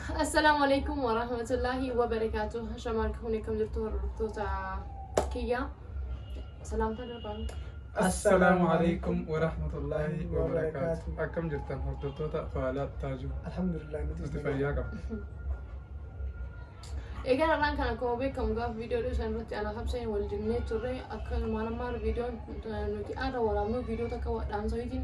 Assalaamu alaikum wa rahmatullahi wa barakaatu. Hashamaa harka fuunee kam jirtu hordoftoota kiyyaa. Salaamtaa darbaan. Assalaamu alaikum wa rahmatullahi wa barakaatu. Akkam jirtan hordoftoota faalaa taajuu. Alhamdulillah nuti Nuti fayyaa qabna. Egaa har'aan kan akkuma beekamu gaafa viidiyoo dhiisan irratti ana habseen wal jennee turre akkasumaan ammaa viidiyoon nuti har'a waraabnu viidiyoo takka dhaamsaniitiin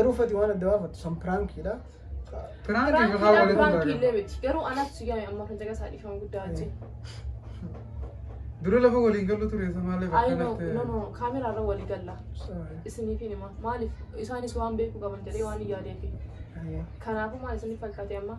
Garuu fati waan adda baafattu san piraankiidha. Piraanki Piraankiidha, gahaa walitti piraanki hin illee miti. Garuu anatu si gahe amma kan caqasaa dhiifama guddaa achi. Dura lafa waliin gallu ture isa maaliif Ayi no, akkanatti no, no, kaameraa irra walii galla. Isiniif hin hima. Maaliif isaanis waan beekuu qaban jedhee waan hin yaadeefi. Kanaafuu maal isiniif fakkaate amma?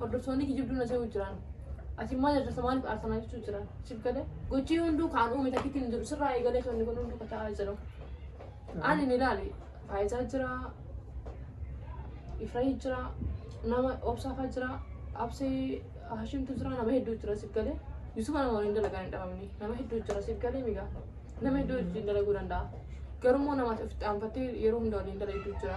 Hordoftoonni kijibduu na se'uu jiran. Ati maal hojjeta maaliif aarsa na jechuu jiran. Siif galee gochii hunduu kaan uume takkitti hin jiru sirraa eegalee kan kun hunduu kata'aa jira. Ani ni ilaali faayizaa jira ifrahii jira nama obsaafaa jira absee hashimtu jira nama hedduu jira siif galee yusufa nama waliin dalagaan hin dhabamne nama hedduu jira siif galee migaa nama hedduu wajjin dalaguu danda'a. Garuu immoo namaatti ofitti aanfattee yeroo hunda waliin dalagdu jira.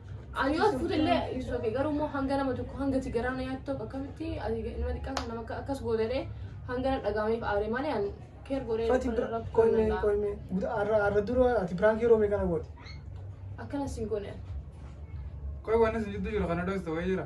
Ani yoo as fuutellee ibsu oke garuu immoo hanga nama tokko hanga si garaa na yaaddu tokko akkamitti ati nama xiqqaa kan nama akka- akkas gootelee hanga na dhagahameef aare malee ani keer godhee Fati lafa irraa fudhuu qoyme danda'a. qoyme guda arra arra dura ati prank yeroo mee kana goote. Akkana siin goone. Qoy waan isin jidduu jiru kana dhooftu wayii jira.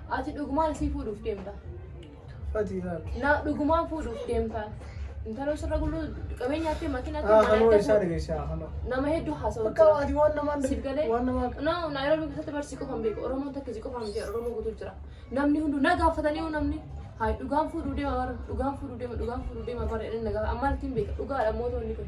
Ati dhugumaan isii fuudhuuf deemta. Fatii laal. Na dhugumaan fuudhuuf deemta. Intaloo sirra gulluu qabeenya ati makiina ati Haa kanoo isaa dhageessi haa kanoo. Nama hedduu haasawaa Bakka jira. ati waan namaan Siif galee waan namaa na Naayiroobii keessatti barsi qofaan beeku Oromoon takka si qofaan miti Oromoo guutuu jira. Namni hundu na gaafatanii hoo namni haay dhugaan fuudhuu deema bara dhugaan fuudhuu deema dhugaan fuudhuu deema bara inni na gaafata ammaan ittiin beeka dhugaadha mootonni kun.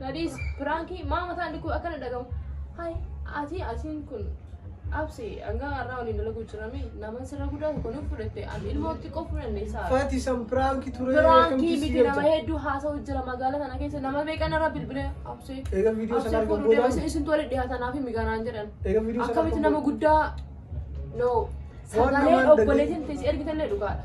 Nadhiis piraankii maa mataan dhukuu akkana dhagamu. Hai ati asiin kun absi hanga har'aa waliin dalaguu jirame naman sirra guddaa tokko nuuf fudhatte an ilmoo xiqqoo fudhanne isaa. Fati san piraanki ture. Piraankii akkamitti si miti nama galcha? hedduu haasa'u jira magaalaa kana keessa nama meeqan irra bilbilee absi. Eega viidiyoo sana Absi argan fuudhuu deema boodaan. isin tola dhiyaatanaa fi migaanaan jedhan. Eega viidiyoo sana Akkamitti argan nama boodaan. guddaa no Waan sagaleen namaan obboleetiin fi si ergitallee dhugaadha.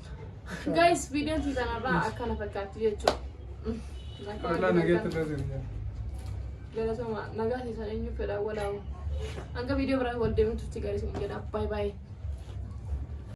Guys, video kii kanarraa akkana fakkaatti jechuudha. Walaa nageetti dhoofin. Galatoomaa nagaa keessan eenyu fedha walaawu. Hanga video biraa wal deemuutti garii isin jedha. Bye bye.